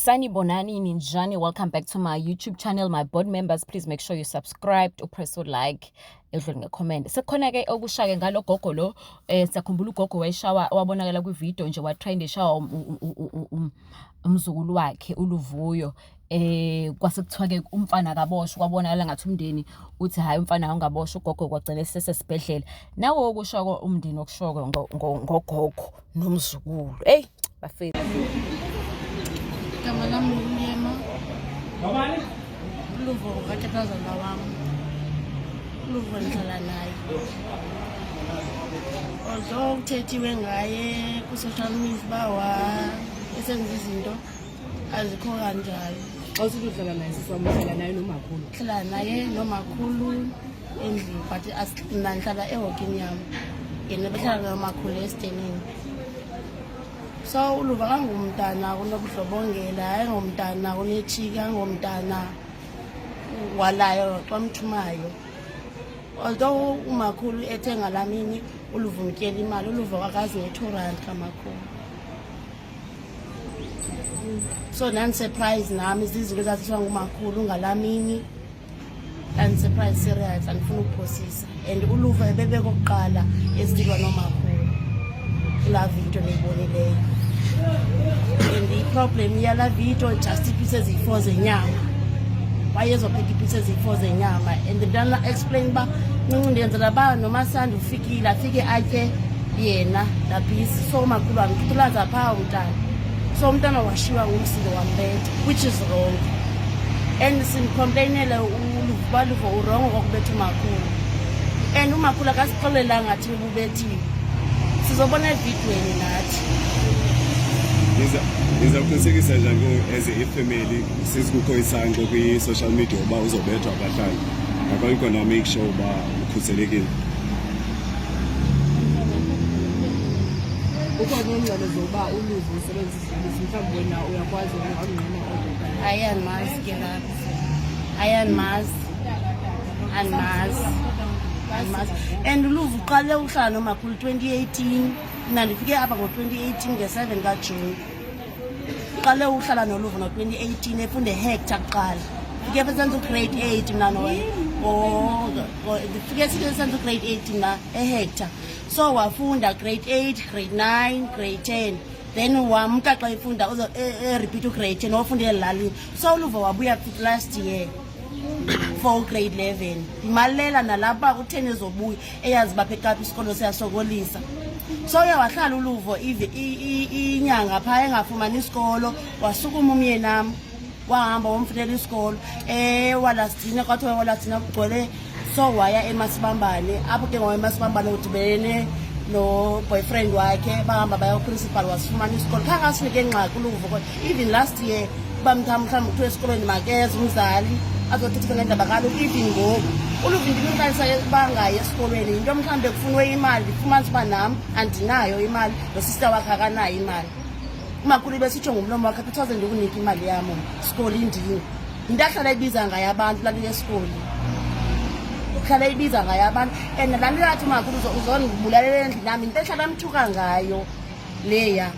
sanibonani ninjani welcome back to my youtube channel my board members please make sure you subscribe upress ulike edlule ngecomment sekukhona ke okushake ngalo gogo lo eh sakhumbula ugogo wayishawa wabonakala kwivideo nje watrend eshawa um, um, um, umzukulu wakhe uluvuyo eh kwase kuthiwa ke umfana akaboshwa kwabonakala ngathi umndeni uthi hayi umfana awungaboshwa ugogo kwagcina sesesibhedlela nawo okusho umndeni okushoko ngogogo nomzukulu. Eyi bafethu. Igama lam nguMyema. Ngobani? Uluvo ngokatatazaza wam. Uluvo ndihlala naye. Although kuthethiwe ngaye kwi-social media uba wa esenza izinto azikho kanjalo. Xa usithi uhlala naye siswam uhlala naye nomakhulu. Hlala naye nomakhulu. endlini but mna ndihlala ehokini yam yena behlala nomakhulu esidenini so uluva kangumntana kunobudlobongela ayingomntana kunetshiki angomntana walayo xa mthumayo although umakhulu ethe ngalaa mini uluva umtyela imali uluva kwakazi ne-two rand kamakhulu so ndandisurprise nami zizinto ezaziswa ngumakhulu ngalaa mini andisurprise serious andifuna ukuphosisa and uluva ebebekokuqala esilwa nomakhulu kulaa vidiyo niyibonileyo and iproblem yalaa vidiyo just iipisi eziyi-four zenyama wayezopheka iipisi eziyi-four zenyama and ndana explain uba ncinci ndiyenzela uba nomasandi ufikile afike atye yena lapisi so makhulu wam kuthilaza phaa umntana so umntana washiywa ngumsindo wambetha which is wrong and simcomplainele ubaluvo urongo kwakubetha umakhulu and umakhulu akasixelelanga thi ububethiwe sizobona evidweni nathi ndiza kuqinisekisa njani as ifamily sesikukho isangqo kwi-social media uba uzobethwa abahlali ngakho ikona make sure uba ukhuselekile Kukho neencwadi zokuba uluve usebenzisa ibisi mhlawumbi wena uyakwazi ungqina kodwa hayi andimazi ke lapho hayi andimazi andimazi andimazi and uluve uqale uhlala nomakhulu 2018 mna ndifike apha ngo-2018 nge-7 kajuni uqale uhlala noluvo ngo-2018 efunde ehector kuqala fike phe senza ugrade eight mna fike senza ugrade eight mna ehector so wafunda grade eight grade nine grade ten then wamka xa efunda erepeat e, e ugrade ten wafunda elalini so uluvo wabuya last year for ugrade eleven ndimalela nalapha kutheni ezobuya eyazi baphekaphi isikolo siyasokolisa so uye wahlala uluvo inyanga phaa engafumani isikolo wasukuma umyenam wahamba womfunela isikolo um walastina kwathiwa walastina kugcwele so waya emasibambane apho ke ngoba emasibambane udibene noboyfriend wakhe bahamba baya uprincipal wasifumana isikolo khange asinike ngxaki uluvo kodwa even last year uba mthambi mhlawumbi kuthiwa esikolweni makeze umzali azothetha ngendaba kaloku even ngoku uluvi ndimqalisa bangayi esikolweni yinto mhlawumbi ekufunwe imali ndifumanisa uba nam andinayo imali nosista wakhe akanayo imali umakhulu besitsho ngumlomo wakhe phithaze ndikunika imali yam sikoli ndini yinto ahlala ibiza ngayo abantu lali yesikoli uhlala ibiza ngayo abantu and laa nto yathi umakhulu uzondibulalela endlini yam yinto ehlala mthuka ngayo leya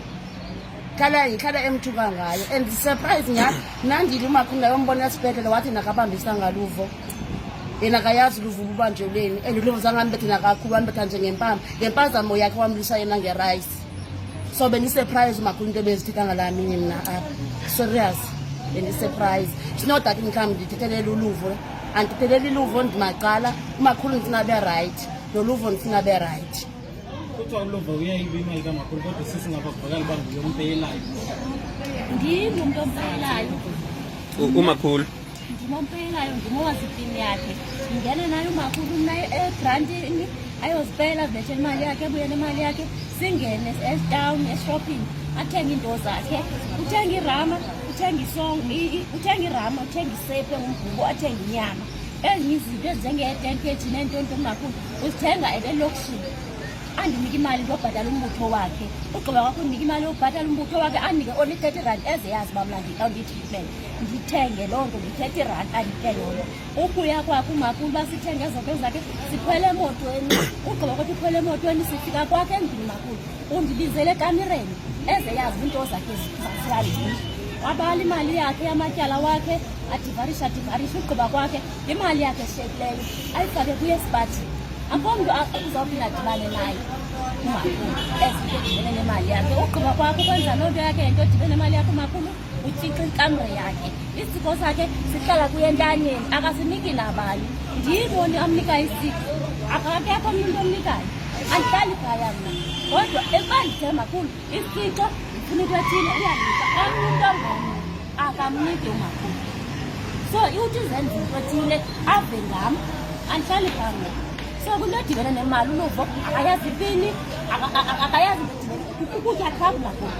khala ikhala emthuka ngayo and surprise nya nandili umakhunda yombona esibhedlela wathi nakabambisa ngaluvo yena kayazi luvo ububanjelweni and luvo zangambethe nakakhulu wambetha nje ngempama ngempazamo yakhe wamlisa yena ngerice so bendisurprise umakhulu into ebezithetha ngalamini mna apha serious bendisurprise sino that mhlawumbi ndithethelele uluvo andithethelele iluvo ndimacala umakhulu ndifuna be right noluvo ndifuna be right umakhulu ndimompeyelayo ndimowasipini yakhe ndingene naye umakhulu mna egrantini ayozipela vetshe imali yakhe ebuye nemali yakhe singene etown eshopping athenge iinto zakhe uthenge irama uthenge isong uthenge irama uthenge isepe ngumgubo athenge inyama ezinye izinto ezinjengee-ten kg neento nto kungakhulu uzithenga ebelokishini andinike imali ndiyobhatala umbutho wakhe ugqiba kwakho unike imali yobhatala umbutho wakhe andinike only thirty rand eze yazi uba mna ndikawunditreatment ndithenge loo nto ndi-thirty rand andike yona ukuya kwakhe umakulu uba sithenge ezoto zakhe sikhwele emotweni ugqiba kwakho ukhwele emotweni sifika kwakhe endlini makulu undibizele ekamireni eze yazi iinto zakhe zaziyalii wabala imali yakhe yamatyala wakhe adivarisha adivarisha ugqiba kwakhe Imali yakhe eshiyekileyo ayifake kuye sibathi akho mntu uzawuthi nadibane naye umakhulu ezinto edibene nemali yakhe ugqiba kwakho ukwenza loo nto yakhe yento edibene nemali yakhe umakhulu utshixa ikamre yakhe isiko sakhe sihlala kuye entanyeni akasiniki nabani ndiyiboni amnika isiko akakekho mntu omnikayo andihlali phaya mna kodwa ebandithemba khulu isixo ndifuna into ethile uyanika omnye umntu ongomnye akamnike umakhulu so iwuthi uzenza into othile ave ngam andihlali phambi so kunto edibene nemali uluvo akayazi ipini akayazi ukutya travula kubo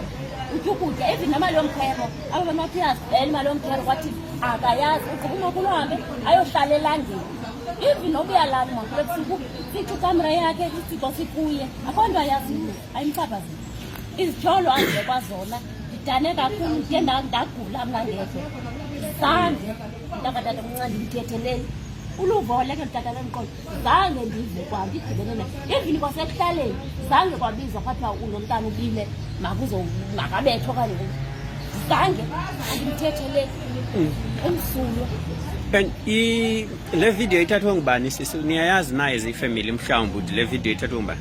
utya ukutya even nemali yomkhwebo abo bantu bathi uyazibela imali yomkhwebo kwathi akayazi ugqiba umakhulu uhambe ayohlala elangeni even nokuya lani makhulu ebusuku sithi ikamera yakhe isithixo sikuye akho nto ayaziyo ayimpapazile izityholo azive kwazona ndidane kakhulu ndiye ndagula mna ngedwa zange ndakatata omncane ndimthetheleni uluvo oleke nditata lomqolo zange ndive kwa ndidibene na evini kwasekuhlaleni zange kwabizwa kwathiwa ulo mntana ubile makuzo makabetho okanye zange andimthetheleni mm. umsulwa and le video ithathwe ngubani sisi niyayazi naye zifamily mhlawumbi ukuthi le video ithathwe ngubani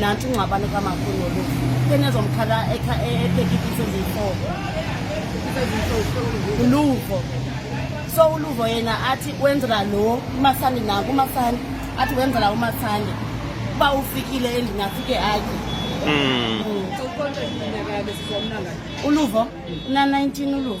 nanti ungxabane kamakhulu olufu enezomkhala etekitise ziyi-four uluvo so uluvo yena athi wenzela lo umasandi naku umasandi athi wenzela umasandi uba ufikile endini afike atye hmm. hmm. uluvo na-19 uluvo